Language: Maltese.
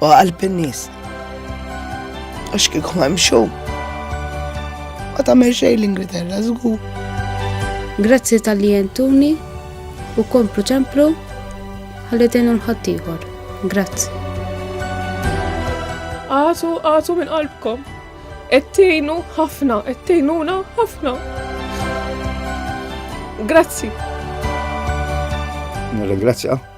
u qalb in-nies. Għax kieku ma jimxu. Ma tagħmel xejn l-Ingilterra żgur. Grazzi tal-li jentuni u komplu ċemplu ħalli tenu l-ħaddieħor. Grazzi. Għatu, għatu minn qalbkom. Ettejnu ħafna, ettejnuna ħafna. Grazzi. Nirringrazzja.